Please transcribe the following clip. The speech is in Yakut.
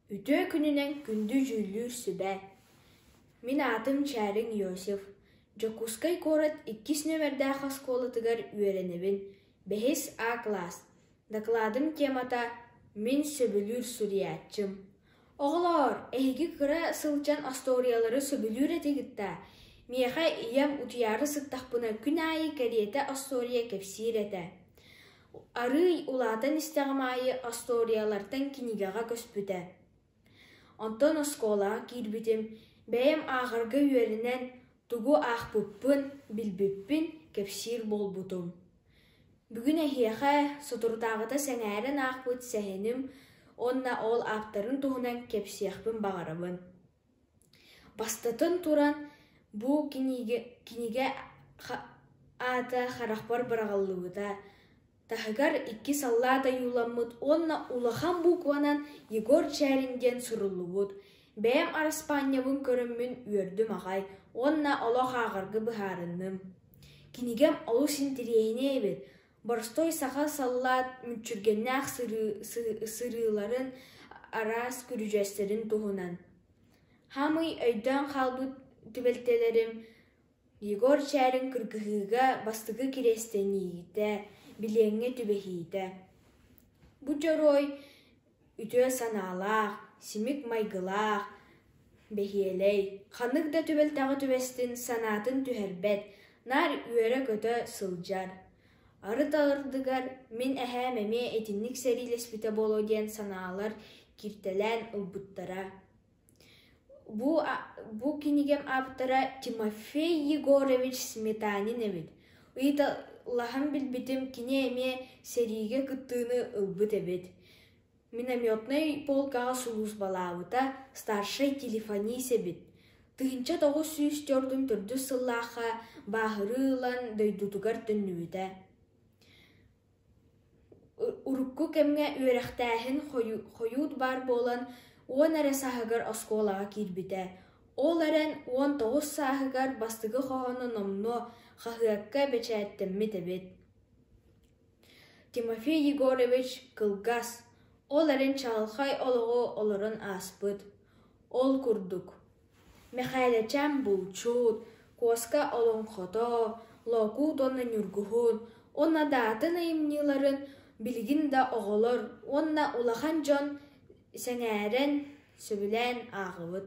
Үтүө күнүнэн күндү дьүүллүүр сүбэ Мин аатым Чээриҥ Иосиф Дьокуускай куорат иккис нүөмэрдээх оскуолатыгар үөрэнэбин бэһис А кылаас Дакладым темата Мин сөбүлүүр суруйааччым Оҕолоор эһиги кыра сылдьан остуоруйалары сөбүлүүр этигит-даа Миэхэ ийэм утуйаары сыттахпына күн аайы кэриэтэ остуоруйа кэпсиир этэ Арыый улаатан истэҕим аайы остуоруйалартан кинигэҕэ көспүтэ. Онтон оскуолаҕа киирбитим, бэйэм ааҕарга үөрэнэн, тугу аахпыппын билбиппин кэпсиир буолбутум. Бүгүн эһиэхэ соторутааҕыта сэҥээрэн аахпыт сэһэним уонна ол ааптарын туһунан кэпсиэхпин баҕарабын Бастатан туран, бу кинигэ, кинигэ аата харахпар быраҕыллыбыта, таһыгар икки саллаат ойууламмыт уонна улахан буукубанан Егор Чээрин диэн суруллубут «Бэйэм араспаанньабын көрөммүн үөрдүм аҕай уонна олох ааҕарга быһаарынным» кинигэм олус интириэһинэй эбит Боростуой саха саллаат мүччүргэннээх сырыыларын араас күрүдьэстэрин туһунан Хаамый өйдөөн хаалбыт түбэлтэлэрим Егор Чээрин кыргыһыыга бастакы кириэстэниитэ, билиэҥҥэ түбэһиитэ. Бу дьоруой үтүө санаалаах, симик майгылаах, бэһиэлэй, ханнык да түбэлтэҕэ түбэстин санаатын түһэрбэт, наар үөрэ-көтө сылдьар. Арыт ардыгар мин эһээм эмиэ итинник сэриилэспитэ буолуо диэн санаалар киртэлээн ылбыттара Бу кинигэм ааптара Тимофей Егорович Сметанин эбит, ыйыталаһан билбитим кини эмиэ сэриигэ кыттыыны ылбыт эбит. Минометнай полкаҕа сулууспалаабыта старшай телефонист эбит. Тыһыынча тоҕус сүүс төрдүн төрдүс сыллаахха бааһырыы ылан дойдутугар төннүбүтэ Урукку кэмҥэ үөрэхтээһин хойуут баар буолан, уон эрэ сааһыгар оскуолаҕа киирбитэ, ол эрэн уон тоҕус сааһыгар бастакы хоһоону номнуо хаһыакка бэчээттэммит эбит Тимофей Егорович кылгас, ол эрэн чаҕылхай олоҕу олорон ааспыт Ол курдук, Мэхээлэчээн булчут, Куоска олоҥхото, Лоокуут уонна Ньургуһун уонна Даатын айымньыларын билигин да оҕолор уонна улахан дьон сэҥээрэн, сөбүлээн ааҕабыт